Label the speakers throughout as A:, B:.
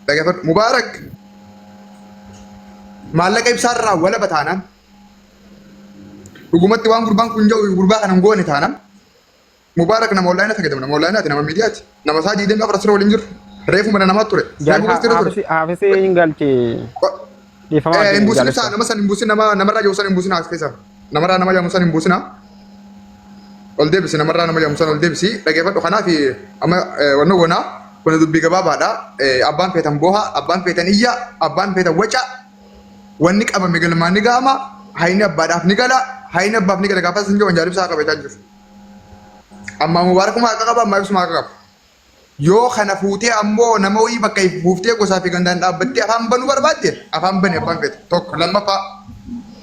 A: Dhaggeeffadhu. Mubaarak maallaqa ibsaarraa walaba taanaan dhugumatti waan gurbaan kun jedhu gurbaa kana hin goone taanaan Mubaarak nama onlaayina fayyadamu nama onlaayinaati nama miidiyaati nama isaa diideen gaafa rasira waliin jiru reefu mana namaatti ture reefu Jalha gastira ture. Haafisee
B: hin galchee. Ko- Dhiifama
A: Eh, hin buusin ibsaa nama san hin buusin nama namarraa jiru san hin buusin as keessa namarraa nama jedhamu san hin buusina ol deebisi namarraa nama jedhamu san ol deebisi dhageeffadhu kanaaf amma eh, wanno gonaa kun dubbii gabaabaadha Eh, abbaan feetan booha abbaan feetan iyya abbaan feetan waca wanni qabame galmaan ni ga'ama hayni abbaadhaaf ni gala hayni abbaaf ni gala gaafas hin jiru wanjaal ibsaa qabeetaan jiru ammaa mubaarakumaa akka qaba ammaa ibsumaa akka qaba Yoo kana fuutee ammoo nama wayii bakka ifu fuuftee gosaa fi gandaan dhaabbattee afaan banuu barbaadde afaan bani abbaan fedhe tokko lammaffaa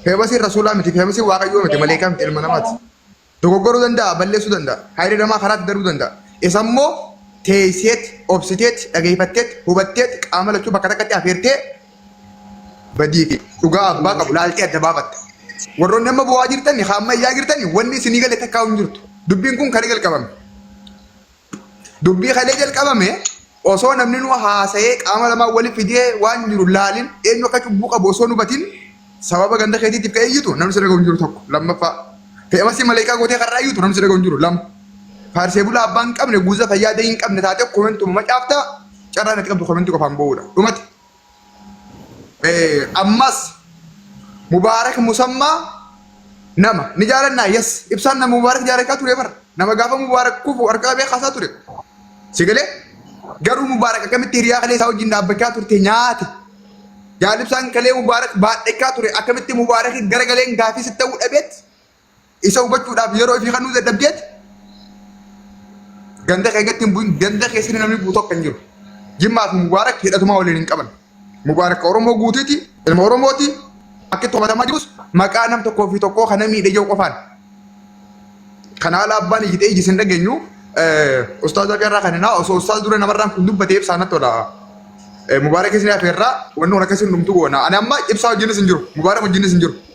A: feebasiin rasuulaa miti feebasiin waaqayyoo miti maleekaa miti ilma namaati dogoggoruu danda'a balleessuu danda'a hayri namaa karaatti daruu danda'a isa immoo teesseet obsiteet dhageeffatteet hubatteet qaama lachuu bakka takkatti afeertee badii fi dhugaa abbaa qabu laaltee adda baafatta warroonni amma bu'aa jirtan haa amma iyyaa jirtan wanni isinii galee takkaa hin jirtu dubbiin kun kan jalqabame Dubbii kalee jalqabame osoo namni nu haasa'ee qaama lamaan wali fidee waan jiru laalin eenyu akka cubbuu qabu osoo nu batin sababa ganda keetiitiif ka'ee iyyutu namni si dhaga'u hin jiru tokko lammaffaa fe'amasii maleekaa gootee karraa iyyutu namni si dhaga'u hin jiru lama faarsee bulaa abbaa hin qabne guuza fayyaa dee hin qabne taatee komentuma macaaftaa carraan ati qabdu komentii qofaan boo'uudha dhumate Ammas Mubaarak Musammaa nama ni jaalannaa yes ibsaan nama Mubaarak jaalachaa ture bara nama gaafa Mubaarak kufu harka qabee kaasaa ture si galee garuu Mubaarak akkamitti hiriyaa kalee isaa wajjin dhaabbachaa turte nyaate jaalibsaan kalee Mubaarak baadhachaa ture akkamitti Mubaarak garagaleen gaafii sitti ta'uu dhabeetti Isa hubachuudhaaf yeroo ofii kennuu dadhabdeet ganda keessatti hin bu'in ganda keessatti namni bu'u tokko hin jiru. Jimmaa fi Mubaarak hidhatumaa waliin hin qaban. Mubaarak Oromoo guutuuti ilma Oromooti akka itti hubatamaa jirus maqaa nam tokkoo fi tokkoo kana miidhe yoo qofaan. Kana haala abbaan iyyitee ijji sin dhageenyu ustaaza irraa kan hinaa osoo ustaaz dura namarraan kun dubbatee ibsaa natti tola. Mubaarak isin hafeerraa wanni kun akkasiin dhumtu goona. Ani amma ibsaa wajjinis hin jiru. Mubaarak wajjinis hin jiru.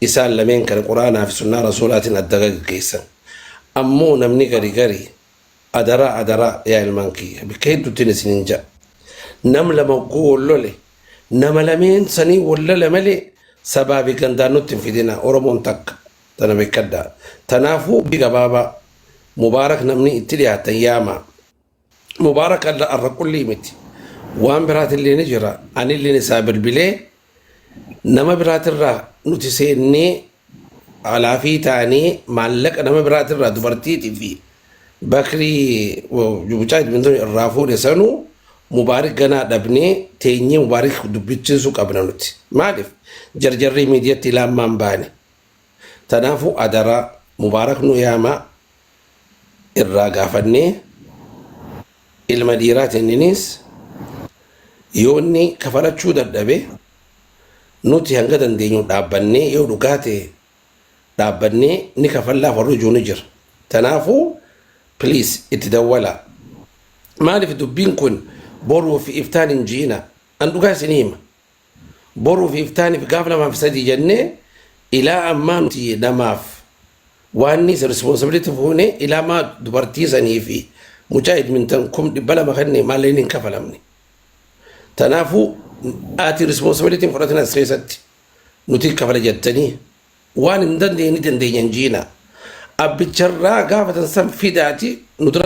C: Isaan lameen kana Qur'aanaa fi Sunnaa Rasuulaatiin adda gaggeessan. Ammoo namni gari gari adaraa adaraa yaa ilmaan kiyya bikka hedduuttiin isiniin ja'a. Nam lama hogguu wol lole nama lameen sanii wol lola malee sabaa fi gandaan nutti hin fidinaa Oromoon takka tana bekkadhaa. Tanaafuu bi gabaabaa Mubaarak namni itti dhiyaattan yaamaa. Mubaarakalla arra qullii miti waan biraatillee ni jira anilleen isaa bilbilee nama biraatirraa nuti seennee alaafii taanee maallaqa nama biraatirraa dubartiitii fi bakrii mucaa idmintoo irraa fuune sanuu mubaarik ganaa dhabnee teenyee mubaarik dubbichiisuu qabna nuti maaliif jarjarrii miidiyatti laammaan baane tanaafuu adaraa mubaarak nu yaamaa irraa gaafannee ilma dhiiraa tenniniis yoo inni kafalachuu dadhabe nuti hanga dandeenyu dhaabbannee yoo dhugaa ta'e dhaabbannee ni kafallaaf warri ijuu ni jira. Tanaafuu please itti dawwalaa. Maaliif dubbiin kun boruu fi iftaan hin ji'ina. An dhugaa isinii hima. Boruuf iftaaniif gaaf lamaaf sadii jennee ilaa ammaa nuti namaaf waanniis responsibility fuune ilaa maa dubartii sanii fi mucaa edmintan kum dhibba lama kenne maalleen hin kafalamne. Tanaafuu ati responsibility hin fudhatin as keessatti nuti kafala jettanii waan hin dandeenye ni dandeenya hin jiina. Abbicharraa gaafatan san fidaati nu dura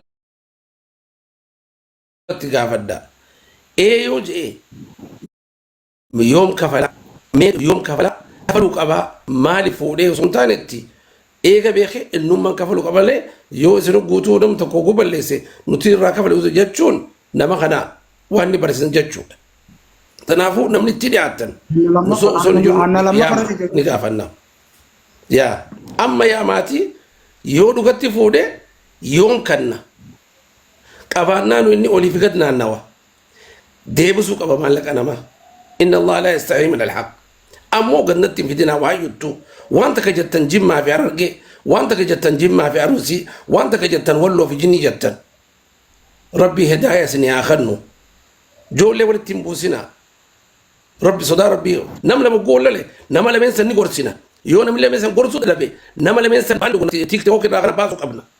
C: irratti gaafadha. Ee yoo je'e yoom kafala mee yoom kafala kafalu qaba maali fuudhee osoo hin taanetti eega beeke innumman kafalu qaba malee yoo isin guutuu nam tokko oguu balleesse nuti irraa kafale jechuun nama kana waan ni barsiisan jechuudha. Kanaafuu namni itti dhiyaatan Hanna lamma osoo osoo hin jiru hanna lamma yaama fara ni gaafanna. Yaa amma yaa maatii yoo dhugatti fuudhe yoom kanna qabaannaanu inni olii fi gad naannawa deebisuu qaba maallaqa namaa inna allah laa yastaxii min alhaq ammoo gannatti hin fidinaa waa juttu waan takka jettan jimmaa fi arargee waan takka jettan jimmaa fi arusii waan takka jettan walloo fi jinnii jettan rabbii hedaaya isinii haa kennu joollee walitti hin buusinaa rabbi sodaa rabbii nam lama goollale nama lameen san ni gorsina yoo namni lameen san gorsuu dadhabe nama lameen san waan tiktook irraa kana baasuu qabna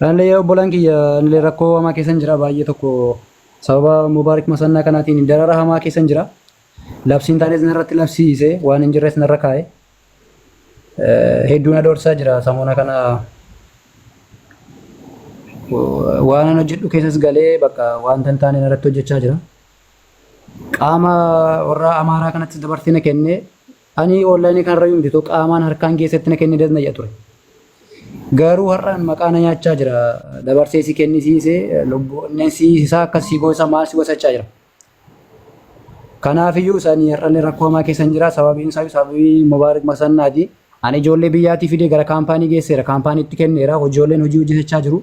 B: Anillee obbolaan kiyya anillee rakkoo hamaa keessan jira baay'ee tokko sababa Mubaarik Masannaa kanaatiin darara hamaa keessan jira. Labsiin taanis narratti labsiise waan hin jirres narra kaa'e. Hedduu na doorsisaa jira samoona kana waan an hojjedhu keessas galee bakka wanta hin taane narratti hojjechaa jira. Qaama warra Amaaraa kanatti dabarsee na kennee Ani online kanarra yoon bituto qaamaan harkaan geessetti na kenni das na jedha ture. Garuu har'a maqaa na nyaachaa jira. Dabarsee si kennisiise lubbuu onneen si isaa akkas si goosa maal si gosachaa jira. Kanaafiyyuu isaan har'allee rakkoo hamaa keessan jira sababiin isaa sababii Mubaarak Masannaati. Ani ijoollee biyyaatii fidee gara kaampaanii geesseera. Kaampaaniitti kenneera. Ijoolleen hojii hojjetachaa jiru.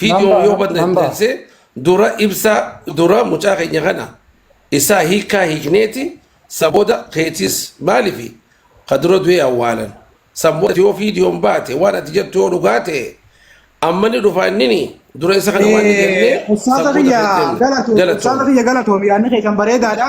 C: Viidiyoo yoo balleesse dura ibsaa dura mucaa keenya kana isaa hiikaa hiikneeti saboda keetis maaliif ka dura du'ee awwaalan saboda yoo viidiyoon baate waan ati jettu yoo dhugaa ta'e amma ni dhufa innini dura isa kana waan jennee Ustaaza saboda kiyya
D: keetti galatoom. Ustaaza kiyya galatoom. Yaadni kee kan bareedaadha.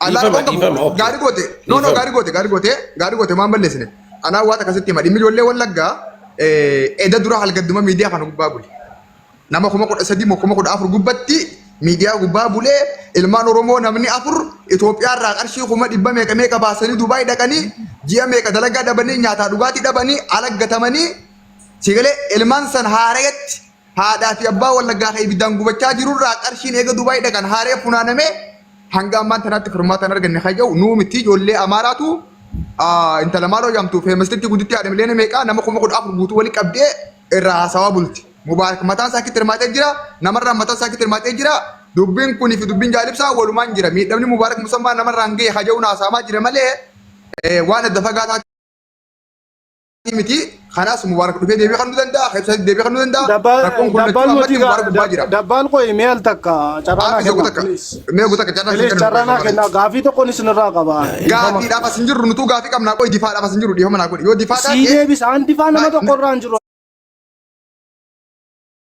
A: Anaa Dhiifama, tokko dhiifama, okay. gaarii goote. No, no, Dhiifama. gaarii goote, gaarii goote, gaarii goote waan balleessine. Anaa waan akkasitti hima. Dhimmi ijoollee wallaggaa eh, eda dura halgadduma miidiyaa kana gubbaa bule. Nama kuma kudha sadii moo kuma kudha afur gubbatti miidiyaa gubbaa bulee ilmaan Oromoo namni afur Itoophiyaa irraa qarshii kuma dhibba meeqa meeqa baasanii Dubaay dhaqanii ji'a meeqa dalagaa dhabanii nyaataa dhugaatii dhabanii alaggatamanii sigalee ilmaan san haarayatti Haadhaa fi abbaa wallaggaa kan ibiddaan gubachaa jirurraa qarshiin eega Dubaay dhaqan haaree funaanamee hanga ammaan tanaatti furmaata hin arganne kan jedhu nuu miti ijoollee Amaaraatu intala maaloo jaamtu feemasitti gudditti haadha miliyoona meeqaa nama kuma kudha afur guutuu wali qabdee irraa haasawaa bulti. Mubaarak mataan isaa kitti hirmaatee jira namarraa mataan isaa kitti hirmaatee jira dubbiin kunii fi dubbiin jaalibsaa walumaan jira miidhamni mubaarak musammaa namarraan ga'e haja'uun haasaamaa jira malee waan adda fagaataa miti kanaas mubaarak dhufee deebii kennuu danda'a keessa deebii kennuu danda'a Dabbaa rakkoon kun dabbaa lachuu nuti ammatti mubaarak gubbaa jira dabbaan qoyi mee al
E: takka carraa naa Haafis yoo kenna takka please. mee guutakka carraa
A: Please isin carraa naa kenna kenna
E: gaafii tokkoon isinirraa qaba. gaafiidhaaf as hin jirru
A: nutuu gaafii qabnaa qoyi difaadhaaf as hin jirru dhiifama naa godhi yoo difaa Sii taate deebisa aan difaa
E: nama tokko irraa hin jiru.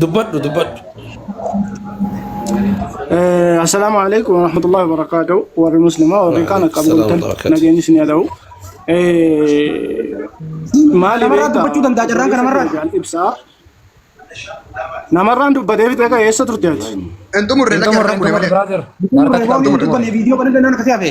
E: dubbadhu
C: dubbadhu
E: Assalaamu alaikum wa rahmatullahi wa barakaatuhu warri muslimaa warri kaan akka Waalaikum bultan salaam wa nageenyi isin haa ta'u. Maali Namarraa beektaa? dubbachuu danda'a carraan kana
D: marraa. Jaal ibsaa.
E: Namarraan dubbatee fixee ka'e eessa turte ati? Entumurre Entumurre,
A: lakki
D: entumurre, brother.
A: Harkatti
D: kan
A: Roobni
D: entumurre. dubbanne
A: viidiyoo kana
E: danda'an akkasii
A: hafe.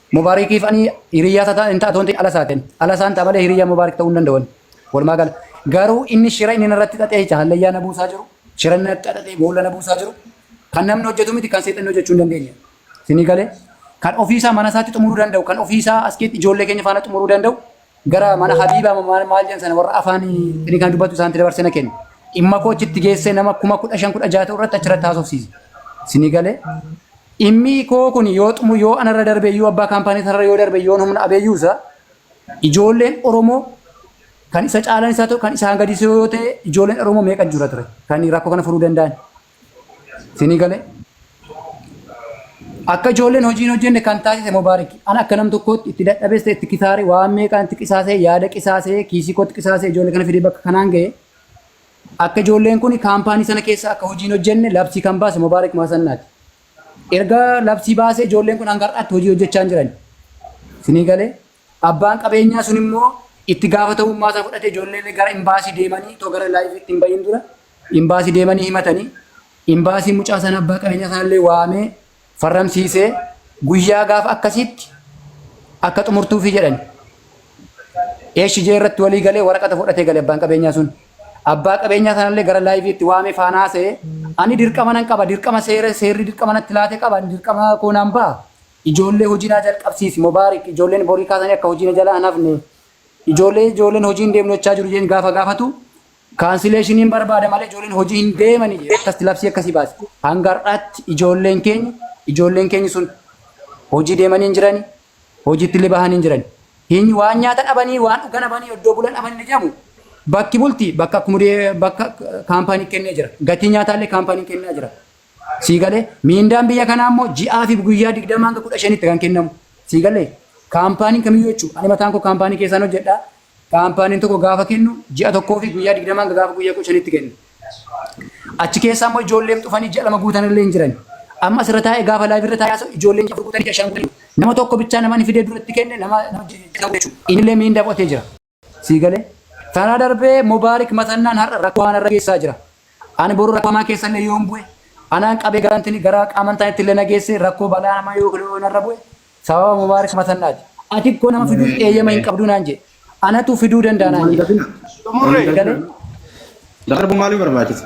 B: Mubaarikiif ani hiriyyaa isaa hin ta'a toontiin ala isaatiin. Ala isaan ta'a malee hiriyyaa Mubaarik ta'uu hin danda'an. Walumaa gala. Garuu inni shira inni narratti xaxee jecha hallayyaa na buusaa jiru. Shira inni narratti xaxee boolla na buusaa jiru. Kan namni hojjetu miti kan seexanni hojjechuu hin dandeenye. Isinii galee. Kan ofiisaa mana isaatti xumuruu danda'u kan ofiisaa askeetti ijoollee keenya faana xumuruu danda'u gara mana Habiibaa moo maal maal jedhan sana warra afaan inni kan dubbatu isaanitti dabarsee na kenna. Dhimma koo achitti geessee nama kuma kudha shan kudha jaha ta'u irratti achirratti haasofsiise. Isinii galee dhimmi koo kun yoo xumu yoo anarra darbee yoo abbaa kaampaanii sanarra yoo darbee yoo humna abeeyyuu isaa ijoolleen Oromoo kan isa caalan isaa ta'u kan isaan gadisee yoo ta'e ijoolleen Oromoo meeqa jira ture kan rakkoo kana furuu danda'an. Isinii galee? Akka ijoolleen hojii hin hojjenne kan taasise Mubaarik. An akka nam tokkootti itti dadhabesse, itti kisaare, waan meeqaan itti qisaasee, yaada qisaasee, kiisii kootti qisaasee ijoollee kana fidee bakka kanaan ga'e. Akka ijoolleen kun kaampaanii sana keessa akka hojii hin hojjenne labsii kan baase Mubaarik Maasannaati. Erga labsii baasee ijoolleen kun hanga har'aatti hojii hojjechaa hin jiran. Isinii galee? Abbaan qabeenyaa sun immoo itti gaafatamummaa isaa fudhate ijoollee gara imbaasii deemanii otoo gara laayiviitti hin bahin dura imbaasii deemanii himatanii imbaasii mucaa sana abbaa qabeenyaa sana illee waamee farramsiisee guyyaa gaafa akkasiitti akka xumurtuufi jedhani. HJ irratti walii galee waraqata fudhatee gale abbaan qabeenyaa sun. Abbaa qabeenyaa sana illee gara laayiviitti waamee faanaa se'ee ani dirqama nan qaba dirqama seera seerri dirqama natti laate qaba ani dirqama koo nan ba'a. Ijoollee hojii naa jalqabsiisi Mobaarik ijoolleen borii kaasanii akka hojii na jalaa hin hafne ijoollee ijoolleen hojii hin deemnu jechaa jiru jedheen gaafa gaafatu kaansileeshiniin barbaada malee ijoolleen hojii hin deemani jedhe akkasitti labsii akkasii baase hanga har'aatti ijoolleen keenya ijoolleen keenya sun hojii deemanii hin jirani hojiitti illee bahanii hin jirani hin waan nyaata dhabanii waan dhugan dhabanii iddoo bulan dhabanii ni jedhamu bakki bulti bakka akkumudee bakka kaampaanii kennee jira gatii nyaataa illee kaampaanii kennaa jira Sii galee? Miindaan biyya kanaa immoo ji'aa fi guyyaa 20 hanga 15tti kan kennamu. Sii galee? Kaampaaniin kamiyyuu jechuudha. Ani mataan koo kaampaanii keessaan hojjedha. Kaampaaniin tokko gaafa kennu ji'a tokkoo fi guyyaa 20 hanga gaafa guyyaa 15tti kenna. Achi keessaa immoo ijoolleen dhufanii ji'a lama guutan illee hin jiran. Amma asirra taa'ee gaafa laayiv irra taa'ee haasa'u ijoolleen afur guutanii ji'a shan guutanii nama tokko bichaa namani fidee duratti kenne nama nama jechuudha. Inni illee miindaa fudhatee jira. Sii galee? Tana darbee Mubaarik Maxannaan har'a rakkoo hamaa narra geessaa jira. Ani boru rakkoo hamaa keessa illee yoon bu'e, anaan qabee gara intini gara qaamantaan itti illee na geessee rakkoo balaa hamaa yoo kle yoo narra bu'e sababa Mubaarik Maxannaati. Ati koo nama fiduuf eeyyama hin qabduu naan jedhe. Anatu fiduu danda'a naan jedhe. Sii galee?
D: Darbu maalii barbaachisa?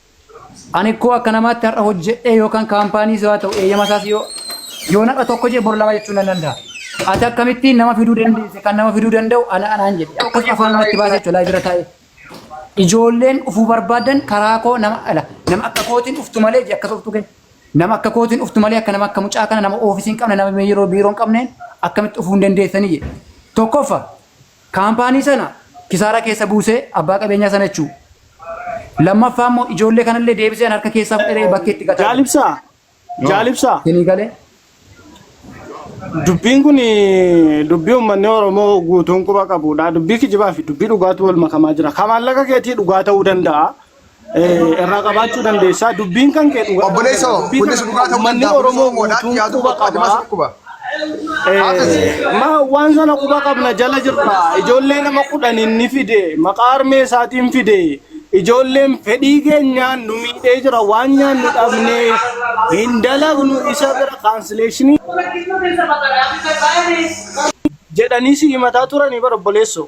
B: Ani ikkoo akka namaatti har'a hojjedhee yookaan kaampaaniis haa ta'u eeyyama isaas yoo yoo nadha tokko jee bor lama jechuun nan danda'a. Ati akkamittiin nama fiduu dandeesse kan nama fiduu danda'u ana anaan jedhe akkas afaan namatti baasee jechuudha laayif irra taa'ee. Ijoolleen dhufuu barbaadan karaa koo nama ala nama akka kootiin dhuftu malee jee akkas dhuftu kee. Nama akka kootiin dhuftu malee akka nama akka mucaa kana nama oofisii hin qabne nama yeroo biiroo hin qabneen akkamitti dhufuu hin dandeessanii jedhe. Tokkoffa Kaampaanii sana kisaaraa keessa buusee abbaa qabeenyaa sana jechuu. Lammaffaa immoo ijoollee kanallee deebisee an harka keessaa fudheree bakkee itti gataa Jaal jira. Ibsaa, Yoo Jaal Ibsaa,
E: isinii galee dubbiin kun dubbii uummanni Oromoo guutuun quba qabudha. Dubbii kijibaa fi dubbii dhugaatu wal makamaa jira. Ka maallaqa keetii dhugaa ta'uu danda'a. irraa qabaachuu dandeessaa dubbiin kan kee dhugaa Obboleessa hoo dubbii kunis kana dhugaa ta'uu
A: uummanni danda'a. Oromoo Oromoo wadaatti guutuun
E: yaaduu quba tokko adeemas qabaa. dhukkuba. Haafis. Ma waan sana quba qabna jala jirra. Ijoollee nama kudhan inni fide maqaa harmee isaatiin fide ijoolleen fedhii keenyaan nu miidhee jira waan nyaannu dhabnee hin dalagnu isa bira kaansileeshinii jedhanii si himataa turanii bara obboleessoo.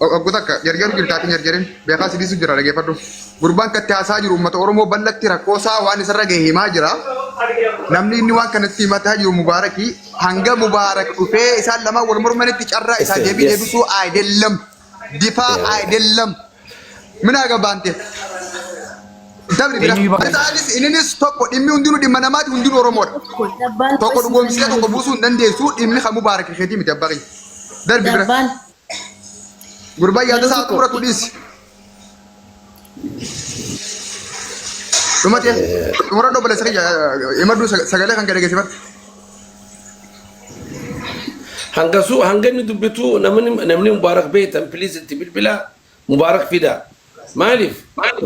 A: Oggu takka jarjaru jirtaati hin jarjarin beekaa si dhiisu jira dhageeffadhu. Gurbaan katti haasaa jiru uummata Oromoo bal'atti rakkoo isaa waan isarra gahe himaa jira. Namni inni waan kanatti himataa jiru Mubaaraki hanga Mubaarak dhufee isaan lamaan wal mormanitti carraa isaa Yes, deebii yes. deebisuu ayidellem difaa Yeah. ayidellem minaa gabaante dabri bira Eenyu ibaa- isaanis inninis tokko dhimmi hundinuu dhimma namaati hundinuu Oromoodha. Dabbaan Tokko dhugoomsee tokko buusuu hin dandeessu dhimmi kan Mubaarak keetii miti abbaa keenya. Darbi bira. Dabbaan Gurbaan yaada isaa akka muratu dhiisi. Dhuma ta'e xumura dhoo balleessa kiyya imaduu sagalee kan gadi geessifadhu.
C: Hanga su hanga inni dubbitu namni namni mubaarak beektan please itti bilbilaa. Mubaarak fida. Maaliif?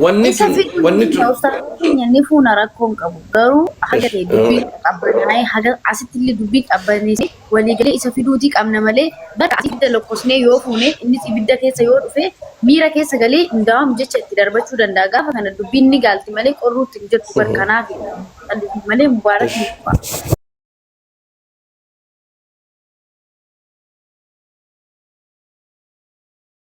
C: Wanni Isa tun, fiduu ni wanni tun. danda'a ustaaza
F: keenya ni fuuna rakkoo hin qabu. Garuu haga ta'e dubbiin qabbanaa'ee haga asitti illee dubbiin qabbaneessee waliigalee isa fiduutii qabna malee bakka asii ibidda lokkosnee yoo fuune innis ibidda keessa yoo dhufe miira keessa galee hin daawam jecha itti darbachuu danda'a. Gaafa kana dubbiin ni gaalti malee qorruutti hin jirtu bar kanaaf malee mubaarak ni kufa.